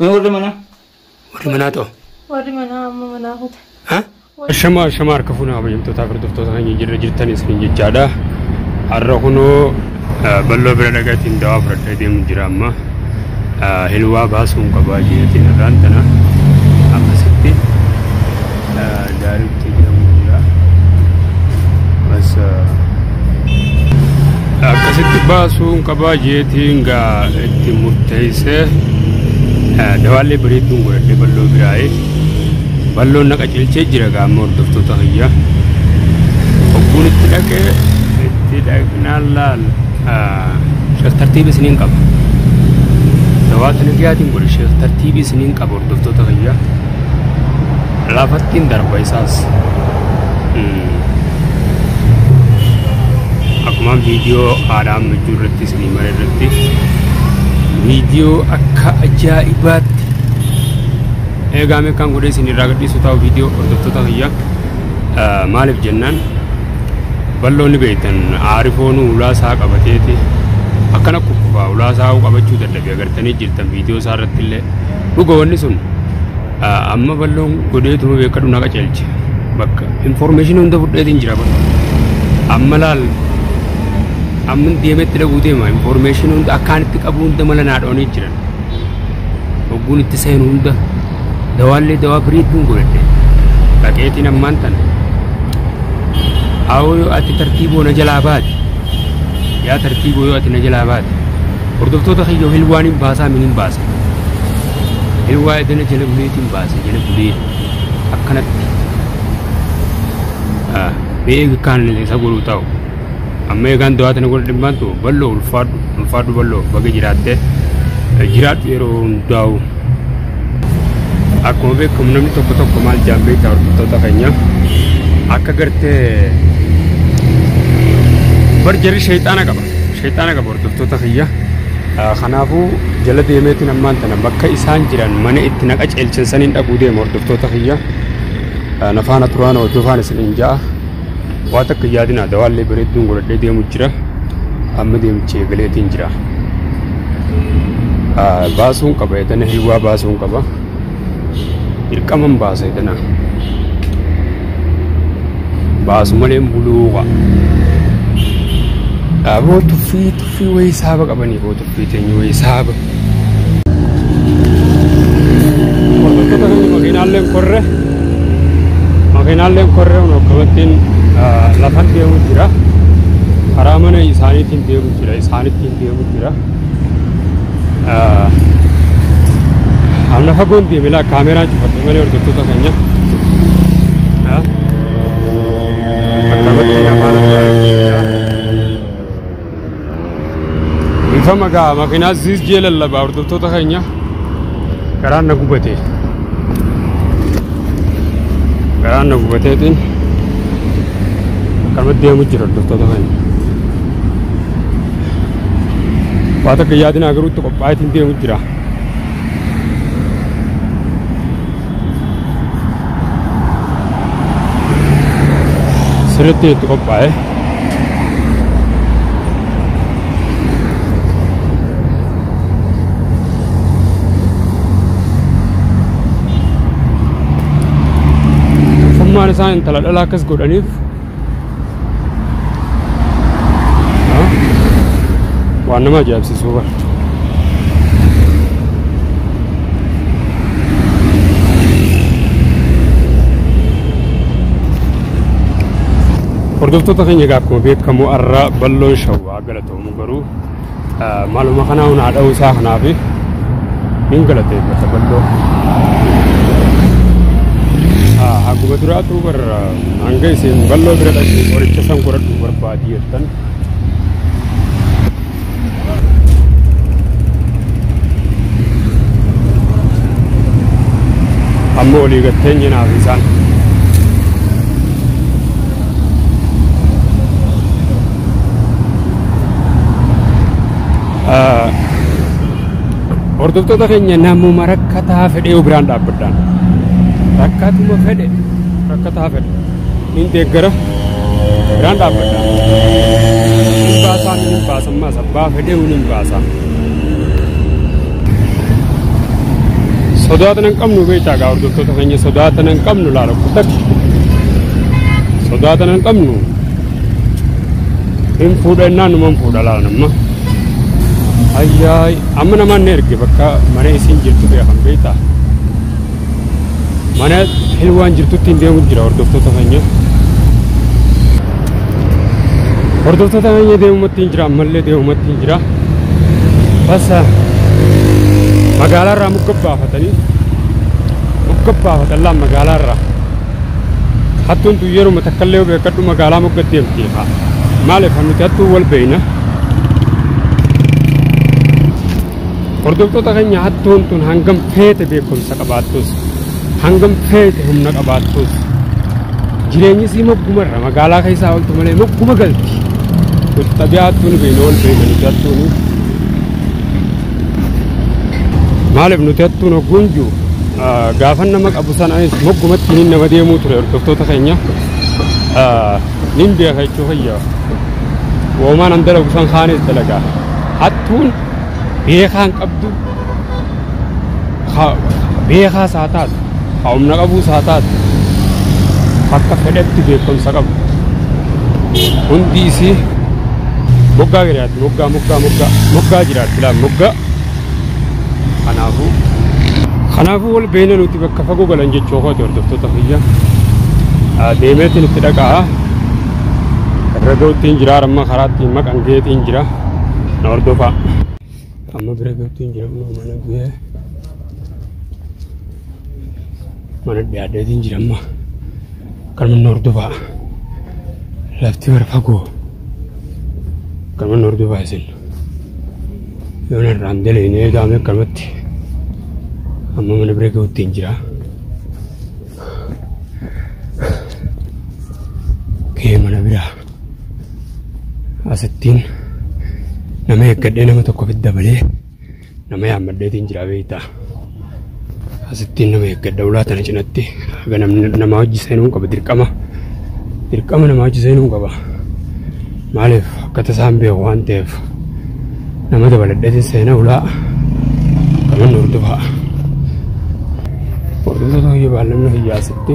Mee warri manaa? Warri manaa ta'o. Warri manaa amma manaa kuta. Ha? Shama shama harka fuuna kabajamtootaa fi hordoftoota keenya jirra jirtan isiniin jechaadha. Har'a kunoo eh, bal'oo bira dhagatiin dawaa fudhadhee deemu jira amma. Eh, Hilwaa baasuun qabaa jeetiin irraan tana akkasitti. eh, Daariktee jedhamu jira. Masa akkasitti baasuun qabaa jeetiin gaa itti murteessee dawaallee bareedduun godhadhee balloo biraa'ee balloon naqa cilchee jira gaa amma hordoftoota hayyaa hogguun itti dhaqee itti dhaqnaan laal sheef tartiibi isiniin qaba dawaatu nagiyaatiin godhe sheef tartiibi isiniin qaba hordoftoota hayyaa Lafattiin darba isaas. Akkuma viidiyoo haadha amma jiru irratti isinii mara irratti viidiyoo akka ajaa'ibaatti eegaame kan godhe isin irraa gadhiisu ta'u viidiyoo hordoftoota kiyya maaliif jennaan balloonni beektan aarifoon ulaa isaa qabateeti akkana kukkufaa ulaa isaa qabachuu dadhabee agartanii jirtan viidiyoo isaa irratti illee Dhuga wanni sun amma balloon godheetuma beekadhu na qaceelche. Bakka information hunda fudheetiin jira bakka. Amma laal amma deemetti dhaguu deema information hunda akkaan itti qabu hunda mala naa dhoonii jiran. Hogguun itti seenu hunda dawaallee dawaa biriidduun godhadhe. Dhaqeetiin ammaan tana. Haawoo yoo ati tartiiboo na jalaa baate. Yaa tartiiboo yoo ati na jalaa baate. Hordoftoota kiyyoo hilwaaniin baasaa miniin baasa. Inni waa'ee dana jala buleetiin baase jala bulee akkanatti mee kaan isa godhuu ta'u amma eegaan du'aa tana godha dhimbaan ta'u bal'oo ulfaadhu ulfaadhu bal'oo baga jiraattee jiraadhu yeroo hundaa'u akkuma beekamu namni tokko tokko maal jaallee ta'u hordoftoota keenya akka gartee bar jarri sheexaana qaba sheexaana qaba Hordoftoota kiyya kanaafuu jala deemeetiin ammaan tana bakka isaan jiran mana itti na qaceelchan saniin dhaquu deema hordoftoota kiyya na faana turaan hordofaan isiniin ja'a waa takka yaadinaa dawaallee bareedduun godhadhee deemu jira amma deemichi eegaleetiin jira baasuun qaba edana hilwaa baasuun qaba. dirqaman baasa jedhana baasu malee buluu qaba dhaaboo tuffii tuffii wayii saaba qabanii boo tuffii teenyu wayii saaba makiinaalleen korre makiinaalleen korre kun akkamattiin lafan deemu jira karaa mana isaaniitiin deemu jira isaanittiin deemu jira Amna fagoon deeme laa kaameraan cufadhe malee hordoftoota keenya. Akkamatti afaan Ifa magaa makinaa ziis jee lallabaa hordoftoota keenya garaan na gubate. Garaan na gubateetiin akkamatti deemu jira hordoftoota keenya. waa takka yaadinaa garuu itti qophaa'eetiin deemu jira. Sirriitti itti qophaa'e. Fummaan isaan intala dhalaa akkas godhaniif waan nama ajaa'ibsiisuu bara. Hordoftoota keenya egaa akkuma beekamu har'a balloon shawwaa galatoomu garuu Maaluma kanaa hunaa dha'uu isaa kanaaf hin galateeffata balloo. Haguma duraatu barra hanga isin balloo bira dhaqu qoricha san godhadhu barbaadi jettan. Amma olii gatteen jinaaf isaan. Hordoftoota keenya namuma rakkataa fedhee yoo biraan dhaabbadhaan rakkatuma fedhe rakkataa fedhe hin deeggara biraan dhaabbadhaan hin baasaa min hin baasan maas abbaa fedhee hin hin baasaa sodaatan hin qabnu beektaa gaa hordoftoota keenya sodaatan hin qabnu laala kutak sodaatan hin qabnu hin fuudha innaan numan fuudha laa namma ayyaay amma namaan na erge bakka mana isiin jirtu bee kan beektaa mana hilwaan jirtutti hin deemu jira hordoftoota keenya hordoftoota keenya deemumatti hin jira ammallee deemumatti hin jira basa magaalaa irraa mugga baafatanii mugga baafatan laa magaalaa irraa hattuun tun yeruma takkallee yoo beekadhu magaalaa mogga deemti haa maaliif haa nuti hattuu wal beeyna hordoftoota keenya hattuun tun hangam feete beekumsa qabaattus hangam feete humna qabaattus jireenyi isii moggumarra magaalaa keessaa oltu malee mogguma galti nuti xabiyaa hattuun beeyna wal beeyna nuti hattuunii Maaliif nuti hattuun hogguun jiru gaafan nama qabu sana moggumatti hin nama deemuu ture hordoftoota keenya nin beeka jechuu fayyaa woomaan an dalagu san kaanis dalagaa hattuun beekaan qabdu Ka beekaas haa taatu, ka humna qabuus haa taatu, akka fedhetti beekumsa qabu. Hundi isii moggaa jiraatti, moggaa, moggaa, moggaa, moggaa jiraatti laal moggaa. Kanaafuu kanaafuu wal beeyna nuti bakka fagoo galan jechuu kooti hordoftoota kiyya. Ah, Deemeetiin itti dhaqaa. Irra ga'uttiin jira, amma karaatti maqan geetiin jira. Na hordofaa. Amma bira gabtu hin jiran moo mana bira mana dhiyaadheetu hin jiran maa kan manni hordofaa lafti bara fagoo kan manni hordofaa isin yoo narraan daleene eegaame akkanumatti amma mana bira ga'utti hin jira. Kee mana biraa. asittiin nama eeggadhee nama tokko fit dabalee nama yaammadheetiin jira beektaa. Asittiin nama eeggadha ulaa tana cinatti haga namni nama hojii seenuu qaba dirqama. Dirqama nama hojii seenuu qaba. Maaliif akka tasaan beeku waan ta'eef nama dabaladheetiin seena ulaa kanan hordofaa. Hordoftoota hojii baallannoo hiyyaasitti.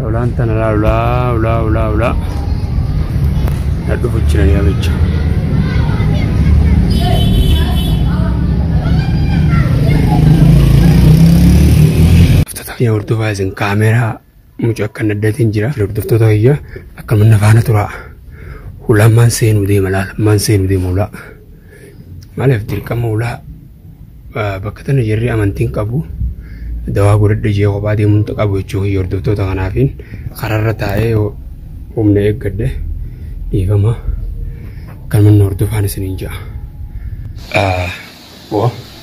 Lolaan tana laa lolaa ulaa ulaa ulaa. Na dhufu jira yaa bicha. Hordoftoota kiyya hordofaa isin kaameeraa mucaa akka naddatiin jira. Hordoftoota kiyya akka manna faana turaa. Hulaan maan seenuu deema laala maan seenuu deema hulaa. Maaliif dirqama ulaa bakka tana jirri amantiin qabu dawaa godhadhe jee kophaa deemuun qabu jechuu kiyya hordoftoota kanaafiin karaarra taa'ee humna eeggadhe dhiifama kan manni hordofaan isiniin ja'a.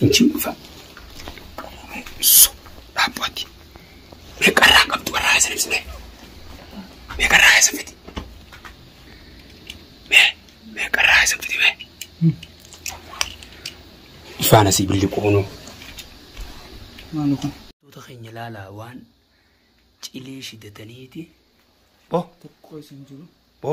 Injiin dhufa. Dhaabbaatti. Meeqarraa qabdu warraa isa ibsine. Meeqarraa isa fiti. Mee meeqarraa isa fiti mee. Ifaan asii billi qoonuu. Tuuta keenya laalaa waan cilee shidataniiti. Bo. Bo.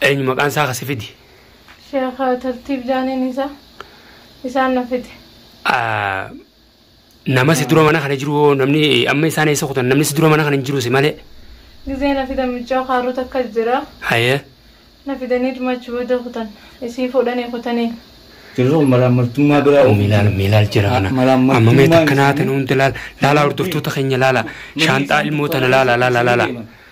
Eenyu maqaan isaa ka si fide? Sheekh Tartiib Jaaniin isa isaan na fide. Ah, Nama si dura mana kana jiru hoo namni amma isaan eessa kutan namni si dura mana kana hin jiru si malee. Gizee na fidan michoo kaaruu takka jira. Hayee. Na fidanii dhumachi booda kutan. Isii fuudhanii kutanii. Yeroo malaammaltummaa biraa Milaal uumamte. milaal jira kana. Amma mee Malaammaltummaan takka naa isaanii- tana hundi laala. Laalaa hordoftoota keenya laala. Shaanxaa ilmoo tana laala laala laala.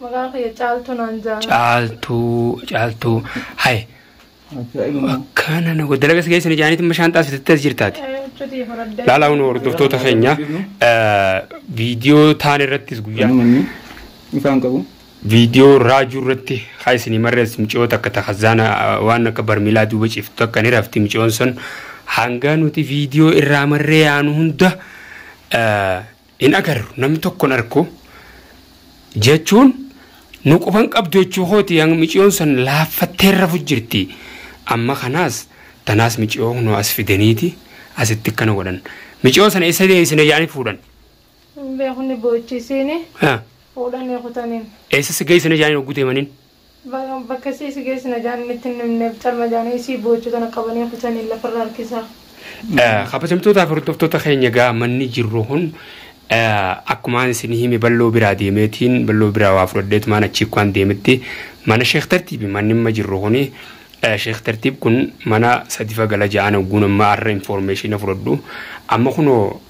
Maqaan kiyya caaltuu naan ja'a. Caaltuu caaltuu hay akkana na godha dalagas keessan ijaaniitiin bishaan taasiftetti as jirtaati. Cutii fudhadhee. Laalaa hunda hordoftoota keenya viidiyoo taan irrattis guyyaa Namni ifaan qabu. viidiyoo raajuu irratti haa isinii marrees miciyoo takka takka zaana waan akka barmiilaa duuba ciftu takka ni rafti miciyoon sun hangaa nuti viidiyoo irraa marree yaanu hunda hin agarru namni tokko hin arku jechuun nu quba hin qabdu jechuu kooti hanga miciyoon san laaffattee rafu jirti amma kanaas tanaas miciyoo kunoo as fidaniiti asitti akkana godhan miciyoo sana isa deebisina jedhanii fuudhan Hin beeku ni boochisiini. Ha, Fuudhanii kutaniin. eessa si geessina jedhanii hogguu deemaniin Bakka isii si geessina jaaniin itti hin himneef calma jaanii isii boochuu tana qabanii kutanii lafarra harkisaa. Kabajamtootaa fi hordoftoota keenya egaa manni jirru kun akkumaan isin hime balloo biraa deemeetiin balloo biraa waa fudhadheetu maan achii kuwaan deemetti mana sheek tartiibi manni amma jirru kun sheek tartiib kun mana sadifa gala ja'aan ogguun amma arra informeeshina fudhadhu amma kunoo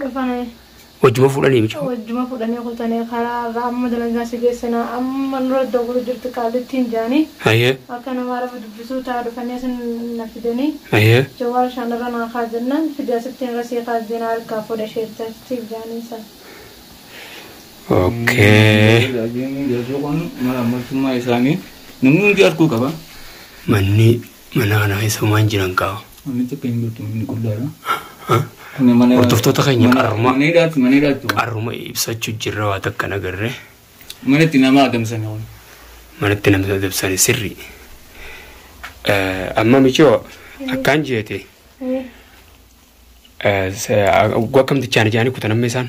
dhufane. Wajjuma fuudhanii mucaa. Wajjuma fuudhanii kutane karaa irraa amma dalagaa si geessina amma nurra dogora jirti qaallittiin jaani. Ayyee. Akka nama araba dubbisuu taa dhufanii asin na fidanii. Ayyee. Jawaar shaan irra naa kaa jennaan fidi asittiin irra sii kaa jeenaa harkaa fuudha sheertatti jaaniin san. Okay. Jaajjii kun mala ammaltummaa isaanii namni hundi arguu qaba. Manni Mana kana keessa homaan jiran kaa. Manni takka hin jirtu manni qullaadha. Kuni mana Hordoftoota keenya mana- qarruma. mana hidhaatti mana hidhaatti waan. Qarruma ibsachuu jirra waa takka hin agarre. Mana itti nama adamsan waan. Manatti namni adamsani sirri. Amma michoo akkaan jeete. Gwa akkamtichaan ijaanii kutan amma isaan.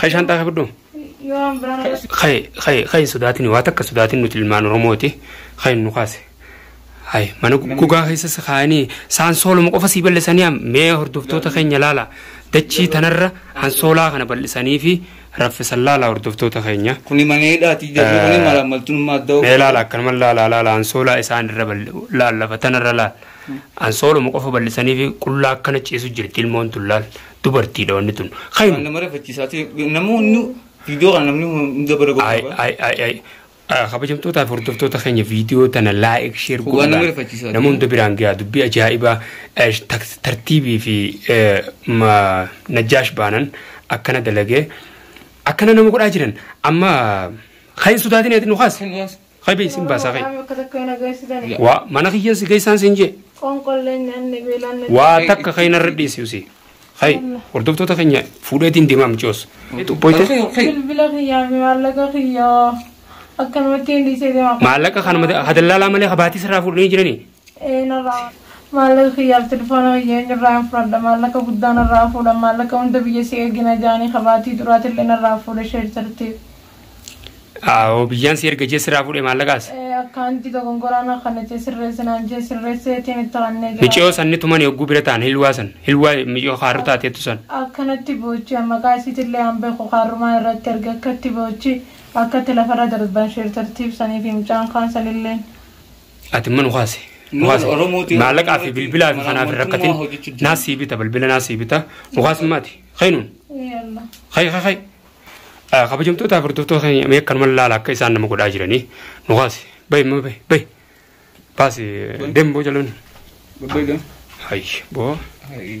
Ka'e shanxaa kee fudhu. Ka'e ka'e ka'e sodaatin waa takka sodaatin nuti ilmaan Oromooti ka'e nu kaase. Hayi mana gogaa keessa si kaa'anii saan sooluma qofa sii bal'isanii mee hordoftoota keenya laala dachii tanarra hansoolaa kana bal'isanii fi raffisan laala hordoftoota keenya. Kuni mana hidhaati jedhu kuni mala maltummaa adda Mee laala akkanuma laala laala hansoolaa isaan irra laal lafa tanarra laal hansooluma qofa bal'isanii fi qullaa akkana ciisu jirti ilmoon tun laal Dubartiidha wanni tun. Khayru. Nama rifachiisaa ta'e namoonni viidiyoo kana namni hunda bara Ay, godhu ay, ay, ay. Ah, Kabajamtootaa fi hordoftoota keenya viidiyoo tana laayik sheer Waan godhuudhaan nama rifachiisaa nama hunda biraan gahaa dubbii ajaa'ibaa eh, tak- tartiibii fi eh, ma- najjaash baanan akkana dalagee akkana nama godhaa jiran amma kan hin sodaatin ati nu kaas Kan dhiyaas. Kay bee isin baasaa kay. Akka takka hin agarsiisani. Waa mana kiyyan si geessaan siin jee. Qoonqollee nyaanne beelaan na Waa takka kay narra dhiisi usii. Kay hordoftoota keenya fuudheetiin deemaa micoos. Xuqqooyte Bilbila kiyyaa fi maallaqa kiyyaa akkanumatti hin dhiisee deema. maallaqa kanuma ha dallaalaa malee ha baatii sirraa fuudhanii jiranii. Ee narraa maallaqa kiyyaaf telefoona kiyya eenyurraan fudhadha maallaqa guddaa narraa fuudhan maallaqa hunda biyya si ergina jaanii ka baatii duraatillee narraa fuudhe sheer tartiib. Aawoo biyyaan si erga jee sirraa fuudhe maallaqaas. Ee akkaantii dogongoraa na kanate sirreessi naan jee sirreesseetiin itti kannee jira. Miciyoo sanni tumani hogguu bira ta'an hilwaa san hilwaa miciyoo kaarru taateettu san. Akkanatti boochi an maqaa isiitillee an beeku kaarrumaa irratti erge akkatti boochi akkatti lafarra darban sheer tartiib saniifi mucaan kaan sanilleen Ati immoo nu kaase. Nu Nuun kaase. Oromooti, Maallaqaa fi Oromooti, bilbilaa fi kanaa fi hin rakkatin. Oromotummaa hojjechuu jira. Naas sii bita bilbila naas sii bita. Nu kaasummaati. Kainuun. Yalla. Kai kai kai. Ah, Kabajamtootaa fi hordoftoota keenya mee akkanuma laala akka isaan nama godhaa jiranii. Nu kaase. Bayi immoo bayi bayi. Baasi deemu boo jaloonni. Babbayda. Hayyi boo. Hai.